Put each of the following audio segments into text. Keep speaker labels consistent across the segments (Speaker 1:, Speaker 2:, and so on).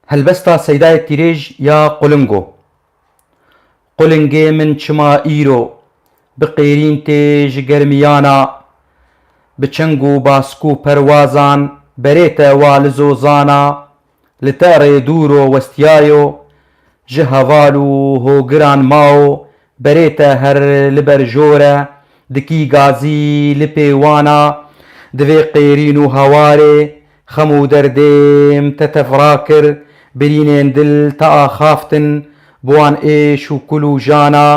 Speaker 1: Helbesta Seydayê Tîrêj ya Qulingo Qulingê min çima îro bi qêrîn tê ji germiyana bi çeng û bask û perwazan berê te wa li zozana li te rê dûro westiyayo ji heval û hogiran mao Berê te her li ber jor e, dikî gazî li pê wan a. Di vê qêrîn û hawarê, xem û derdêm te tevra kir, birînên dil te axaftin, bi wan êş û kul û jan a.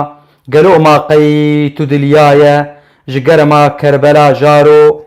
Speaker 1: Gelo ma qey tu dilyaye ji germa Kerbela jaro?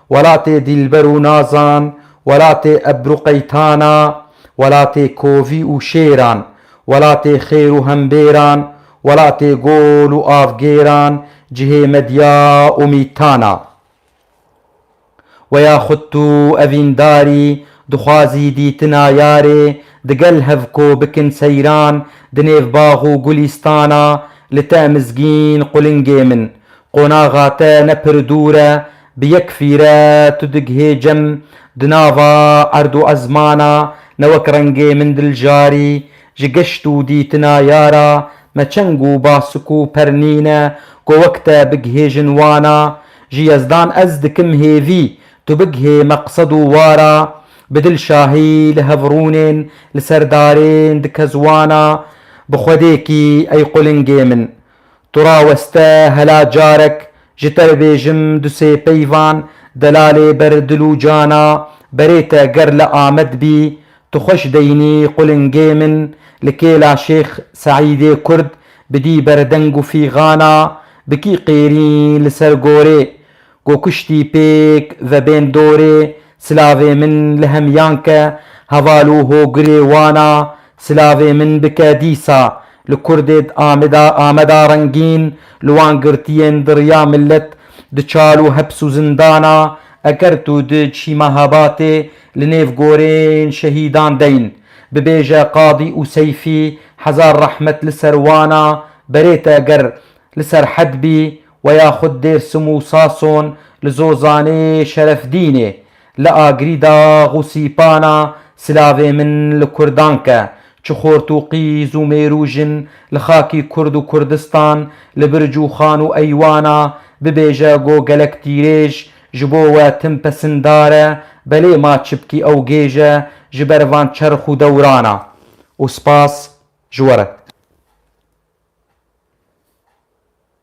Speaker 1: Welatê dîlber û nazan, welatê ebru qeytana, welatê kovî û şêran, welatê xêr û hembêran, welatê gol û avgêran, cihê medya û mîtana. We ya xwit tu evîndarî, dixwazî dîtina yarê, digel hev ko bikin seyran, di nêv bax û gulîstana, li te mizgîn qulingê min, Qonaxa te ne pir dûr e, bi yek fîre tu digihê cem, di nava erd û ezmana ne wek rengê min dil jarî, ji geşt û dîtina yara me çeng û basik û pernîn e ku wek te bigihêjin wana, ji Yezdan ez dikim hêvî, tu bigihê meqsed û wara, bi dilşahî li hev rûnên li ser darên dikez wana, bi xwedêkî ey qulingê min. Tu raweste hela carek ji te bibêjim du sê peyvan delalê ber dil û cana berê te ger li Amed bî tu xweş deynî qulingê min li kêla Şêx Seîdê Kurd bidî ber deng û fîgana bi kî qêrîn li ser gorê Ku kuştî pêk ve bên dorê silavê min li hemiyan ke heval û hogirê wan a silavê min bike dîsa li kurdê di Amida Ameda rengîn li wan girtiyên di riya milet di çal û heps û zindan a eger tu di cî Mehabatê li nêv gorên şehîdan deyn bibêje Qadî û Seyfî hezar rehmet li ser wan a berê te eger li serhed bî Wê ya xwe di Dêrsim û Sason, li Zozanê, Şerefdînê, li Agirî dax û sîpana Silavê min li Kurdan ke, çi xort û qîz û mêr û jin li xakî Kurd û Kurdistan, li birc û xan û eywana, bibêje go gelek tîrêj, ji bo we tim pesindar e, belê ma çipkî ew gêj e ji ber van çerx û dewrana. Û spas ji we re.